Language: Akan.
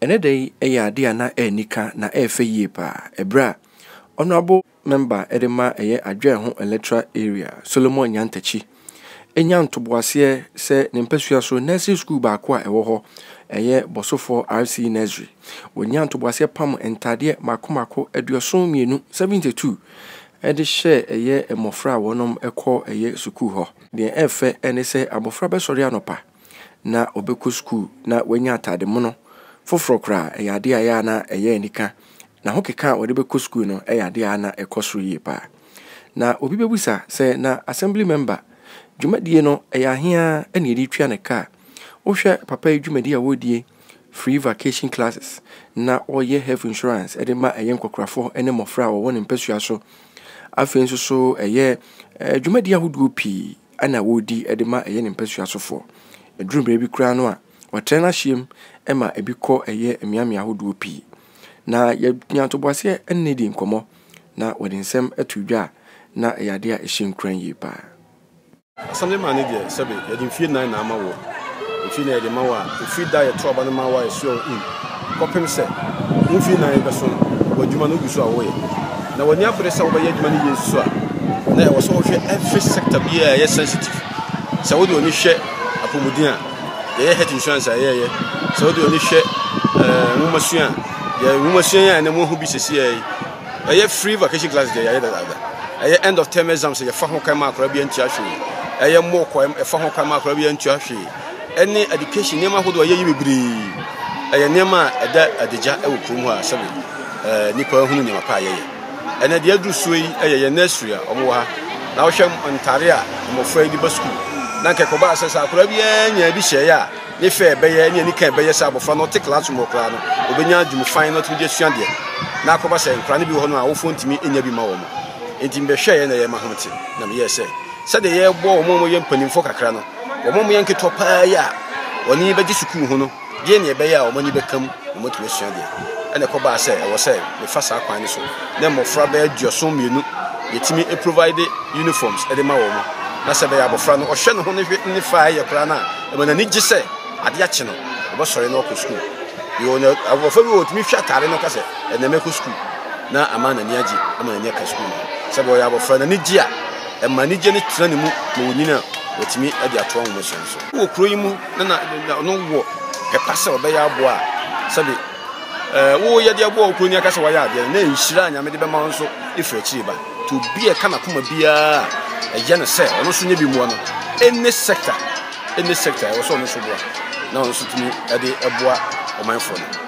Ɛnnɛ da yi ɛyɛ adeɛ a na ɛnika na ɛɛfɛ yie paa ɛberɛ a Honourable Member de ma ɛyɛ Adwoa Eho Electoral Area, Solomon Nyantakyi nya ntoboaseɛ sɛ ne mpasua so Nursery School baako a ɛwɔ hɔ ɛyɛ Bosofoɔ RCE Nursery. Wɔnyaa ntoboaseɛ pam ntadeɛ mmaako mmaako aduɔson mmienu, 72, de hyɛ ɛyɛ mmɔfra a wɔnom kɔ ɛyɛ sukuu hɔ. Deɛ ɛɛfɛ ne sɛ abɔfra bɛsɔre anɔpa. na ɔbɛkɔ sukuu na wanya atade mono foforɔ koraa, ɛyɛ adeɛ a ɛyɛ a na ɛyɛ anika. Na ho keka a wɔde bɛkɔ sukuu no yɛ adeɛ a na ɛkɔ soro yie paa. Na obi bɛbisa sɛ na assembly member dwumadie no ɛyɛ ahe ara na yɛde tua ne kaa. Wohwɛ papa yi dwumadie a wɔredie, free vacation classes, na ɔreyɛ health insurance de ma ɛyɛ nkɔkorafoɔ ne mmɔfra a wɔwɔ ne mpasua so. Afei nso so ɛyɛ dwumadie ahodoɔ pii na ɔredi de ma ɛyɛ ne mpasua sofoɔ. Ɛduru berɛ bi koraa no a, ɔtrɛ no ahyeɛ mu ma ebi kɔ ɛyɛ mmeammea ahodoɔ pii. Na yɛnya ntoboaseɛ ne no di nkɔmmɔ na ɔde nsɛm to dwa a, na ɛyɛ adeɛ a ɛhyɛ nkuran yie pa ara. Asɛm de maa no deɛ, sɛbe yɛde mfeɛ nnan na ama woɔ, mfeɛ nnan yɛde ma wo a, ɛfiri da a yɛtoo aba no ma wo a, ɛsoɛ wo in. kɔpem sɛ wo mfe nnan rebɛso no wɔ adwuma no gu so a woyɛ na w'anya bere sɛ wobɛyɛ adwuma no yie nso a, na ɛwɔ sɛ wohwɛ every sector biara a ɛyɛ sensitive. Sɛ wode w'ani hwɛ apɔmuden a, yɛyɛ health insurance a yɛyɛ. Sɛ wode w'ani hwɛ eh, nwomasua a, yɛ nwomasua yi a ɛnɛ moahu bi sɛsi ɛyi, ɛyɛ free vacation classes deɛ yɛayɛ dadaada. Ɛyɛ end of term exams yɛfa ho kan ma akora bi antua hwee. Ɛyɛ mock ɛfa ho kan ma akora bi antua hwee. ɛne education nneɛma ahodoɔ a yɛyɛ bebree ɛyɛ nneɛma a ɛda adagya wɔ kurom hɔ a sɛbe ɛɛ nipa hunu nneɛma pa a yɛyɛ ɛnɛ deɛ aduru soɔ yi ɛyɛ yɛn nursery a wɔn wɔ ha na wɔhwɛ ntaare a mmɔfra yi de ba sukuu na nka ɛkɔba sɛ sɛ akwadaa biara nya bi hyɛɛ a ne fɛ ɛbɛyɛ ne anika ɛbɛyɛ sɛ abɔfra no ɔte classroom wɔ koraa no obɛnya adwuma fan na ɔtumi de asua deɛ na akɔba sɛ nkwadaa no bi wɔ hɔ no a awofoɔ ntumi nya bi ma wɔn nti mbɛhwɛeɛ na yɛ ma ho te na meyɛ sɛ sɛdeɛ yɛbɔ wɔn a wɔyɛ mpanimfoɔ kakra no wɔn a wɔyɛ nketewa paa yi a wɔn ani bɛgye sukuu ho no yɛ nea ɛbɛyɛ a wɔn ani bɛka mu na wɔatumi asua deɛ. Ɛna ɛkɔbaa sɛ ɛwɔ sɛ mefa saa kwan no so na mmɔfra bɛyɛ aduɔson mmienu yɛtumi provide uniforms de ma wɔn na sɛ ɛbɛyɛ abɔfra no ɔhwɛ ne ho ne hwɛ ne fa ɛyɛ koraa no a ɛma n'ani gye sɛ adeɛ akye no ɔbɛsɔre na ɔkɔ sukuu yɛwɔ no abɔfra bi wɔ ɔtumi hwɛ ataare no ka sɛ ɛnɛ mɛkɔ sukuu na ama n'ani agye ama n'ani aka sukuu no sɛ bɛyɛ abɔfra n'ani gye a ɛma anigye no tena ne mu ma onyin a, watumi de atoa nhomasua no so. Wɔ kurow yi mu na na ɔno wɔ ɛpa sɛ ɔbɛyɛ aboa a sɛbe wo yɛde aboa wo kuroni aka sɛ wayɛ adeɛ no na nhyira a nyame de bɛma wo nso ɛfiri akyiri ba nti obi a ɛka n'akoma biara a ɛyɛ no sɛ ɔno nso nyɛ bi mmoa no ɛne sector ɛne sector ɛwɔ sɛ ɔno nso boa na ɔno nso tumi ɛde ɛboa ɔmanfoɔ no